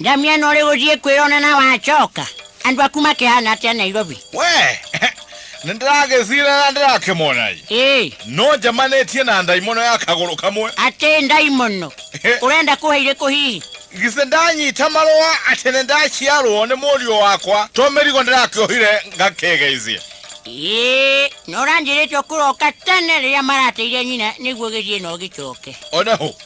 Ndamia no rĩu ũthiĩ kwĩrona na wacoka andũ aku makĩhana atĩa nairobi we nĩ ndĩragĩcira na ndĩrakĩmona ĩ ĩĩ no njemanĩtie na ndaimono ya kagũrũ kamwe atĩ ndaimono ũrenda kũhe irĩkũ hihi githĩ ndanyita marũa atĩ nĩ ndaciarwo nĩ mũriũ wakwa to mĩrigo ndĩrakĩohire ngakĩgeithia ĩĩ no ũranjĩrĩte ũkũroka tene rĩrĩa marateire nyina nĩguo gĩthiĩ na ũgĩcoke ona hũ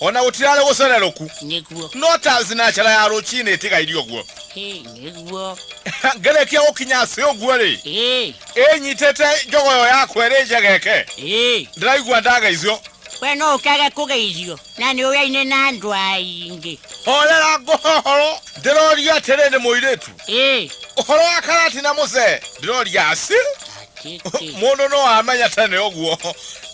ona gũtirarĩ gũcererũku nĩguo no tazi na njara ya rũcinĩ ĩtigairie ũguo Hĩ, nĩguo ngerekia gũkinya cĩ ũguo rĩ Ĩ, ĩnyitĩte njogoyo yakwa ĩrĩ njegeke ĩ. ndĩraigua ndageithio we no ũkage kũgeithio na nĩ ũyaine na andũ aingĩ horera ngũhohoro ndĩroria atĩrĩ nĩ mũirĩtu Ĩ, ũhoro wa karati na mũcee ndĩroria aci atĩkĩ mũndũ no amenya tene ũguo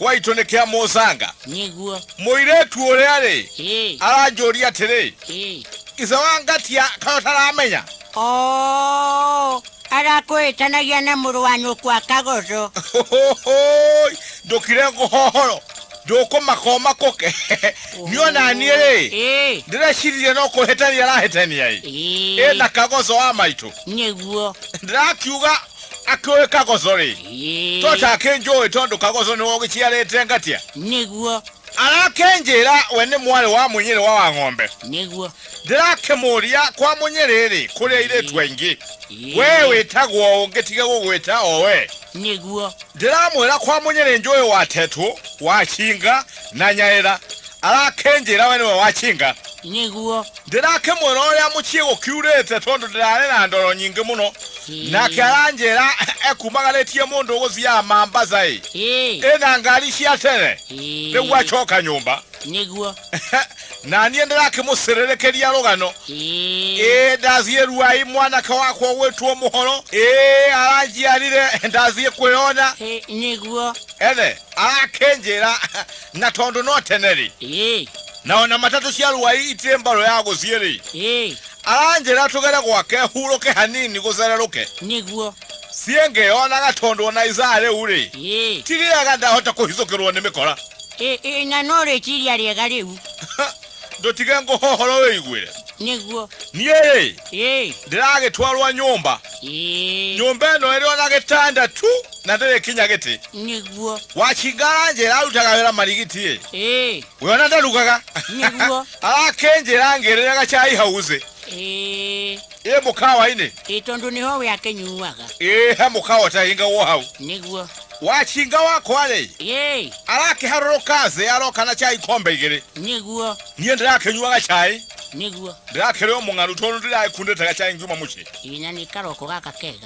gwaitũ nĩ kĩa mũcanga nĩguo Mũirĩtu ũrĩa-rĩ, Ĩ, aranjũria atĩrĩ, ĩ. ithe wa ngatia kaĩ ũtaramenya? Oo, arakũĩtanagia na mũrũ wa nyũkwa kagoco Hũhũhũi, ndũkire ngũhohoro, ndũkũmaka ũmakũke. Niĩ ona niĩ-rĩ, Ĩ, ndĩrecirie no kũhĩtania arahĩtania-ĩ. ĩ. Ĩna kagoco wa maitũ. Nĩguo. Ndĩrakiuga akĩũĩ kagoco rĩ Ĩĩ, to take njũĩ tondũ kagoco nĩwe ũgĩciarĩte ngatia nĩguo arakĩnjĩra we nĩ mwarĩ wa mũnyĩrĩ wa wa ng'ombe nĩguo ndĩrakĩmũria kwa mũnyĩrĩ rĩ kũrĩ airĩtu aingĩ Ĩĩ, we wĩtagwo ũngĩtige gũgwĩta o we nĩguo ndĩramwĩra kwa mũnyĩrĩ njũĩ wa tetũ wa cinga na nyaĩra arakĩnjĩra we nĩwe wa cinga nĩguo Ndĩrakĩmwĩra ũrĩa mũciĩ gũkiurĩte tondũ ndĩrarĩ na ndoro nyingĩ mũno. Nake aranjĩra ekumagarĩtie mũndũ ũgũthiaga Mambasaĩ Ĩĩ, ĩna ngari cia tere ĩĩ. nĩguo acoka nyũmba. Nĩguo. Na niĩ ndĩrakĩmũcĩrĩrĩkĩria rũgano. Ĩĩ. Ĩĩ ndathiĩ Ruai mwanake wakwa ũgwĩtwo Mũhoro. Ĩĩ aranjiarire ndathiĩ kwĩyona. Ĩĩ, nĩguo. Ene arakĩnjĩra na tondũ no tene-rĩ, Ĩĩ. Na o na matatũ cia rũai itirĩ mbaro ya gũthiĩ-rĩ, ĩĩ aranjĩra tũgere gwake hurũke hanini gũthererũke. nĩguo Ciĩ ngĩyonaga tondũ o na ithaa rĩu-rĩ, ĩĩ ti rĩega ndahota kũhithũkĩrwo nĩ mĩkora. ĩĩ ĩĩ na no rĩciria rĩega rĩu Ndũtige ngũhohoro wĩiguĩre. nĩguo Niĩ-rĩ, ĩĩ ndĩragĩtwarwo nyũmba. ĩĩ Nyũmba ĩno ĩrĩ o na gĩtanda tu na ndĩrĩ kinya gĩtĩ. nĩguo Wachinga aranjĩra arutaga wĩra marigiti-ĩ. ĩĩ we ona ndarugaga niguo arakĩnjĩra ngĩrĩra gacai hauze ĩ ĩ mũkawa-inĩ ĩ tondũ nĩho we akĩnyuaga ĩ he mũkawa ũtahingagwo hau niguo wacinga wakwa-rĩ ĩ arakĩharũrũka thĩ aroka na cai kombe igĩrĩ niguo niĩ ndĩrakĩnyua gacai niguo ndĩrakĩrĩ o mũng'aru tondũ ndĩrakundĩte gacai ngiuma mũciĩ ĩ na nĩ karoko gaka kega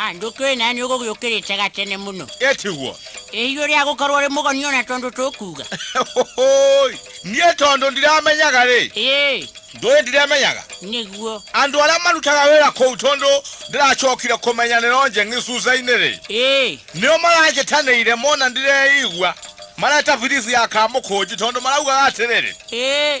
Ah, ndũkĩũĩ nani ũgũgĩũkĩrĩte gatene mũno etiguo ĩhiũ rĩa gũkorwo rĩ mũgoni ona tondũ tũkuga Hũhũi, niĩ tondũ ndiramenyaga rĩ ĩĩ ndũĩ ndiremenyaga nĩguo andũ arĩa marutaga wĩra kũu tondũ ndĩracokire kũmenyanĩra onje ng'icunca-inĩ rĩ ĩĩ nĩo maranjĩtanĩire mona ndireigua mareta birisi ya kamũkũnji tondũ maraugaga atĩrĩrĩ ĩĩ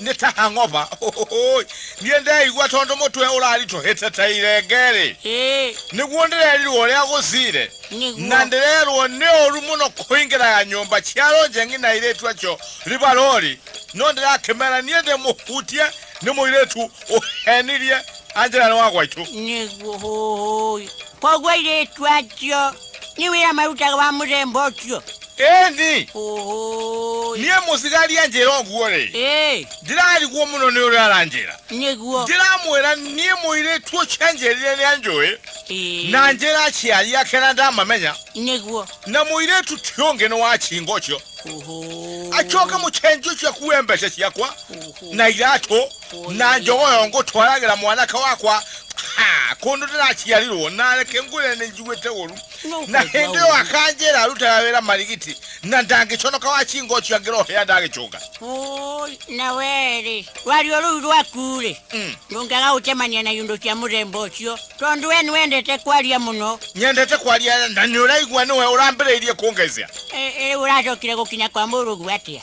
nĩ ta hangoba Ũhũhũĩ. niĩ ndeigua tondũ mũtwe ũraritũhĩte ta irenge-rĩ Ĩ, nĩguo ndĩrerirwo ũrĩa gũcire na nĩguo. ndĩrerwo nĩ ũru mũno kũingĩraga nyũmba cia rũnjeng'i na airĩtu acio ribarori no ndĩrakĩmera niĩ ndĩmũhutie nĩ mũirĩtu ũhenirie anjĩra nĩ wa gwaitũ Nĩguo hũhũĩ. Koguo airĩtu acio niwira maruta wa muthemba ucio ĩni Ũhũĩ. niĩ mũcigari anjĩra ũguo rĩ Ĩ, ndirariguo mũno nĩ ũrĩa aranjĩra nĩguo ndiramwĩra niĩ mũirĩtu ũcio anjĩrire nĩ anjũĩ Ĩ, na njĩra aciari ake na ndamamenya nĩguo na mũirĩtu ti ũngĩ nĩ wa chinga ũcio Ũhũĩ. acoke mũcenji ũcio akuue mbeca ciakwa Ũhũĩ. na iratũ nanje oyo ngutwalagira mwanake wakwa Ha, kundu ndirachiarirwo nareke ngwire ninjiguite uru na hindi iyo akanjira arutaga wira marigiti na ndangiconoka wachingo chiangira uhia ndagichunga Oi, na weri rwario ruu rwakure Mm. ndungaga gucemania na indo cia muthemba ucio tondu we niwendete kwaria muno nyendete kwaria na ni uraigua niwe urambiriirie kungecia riu uracokire gukinya kwa murugu atia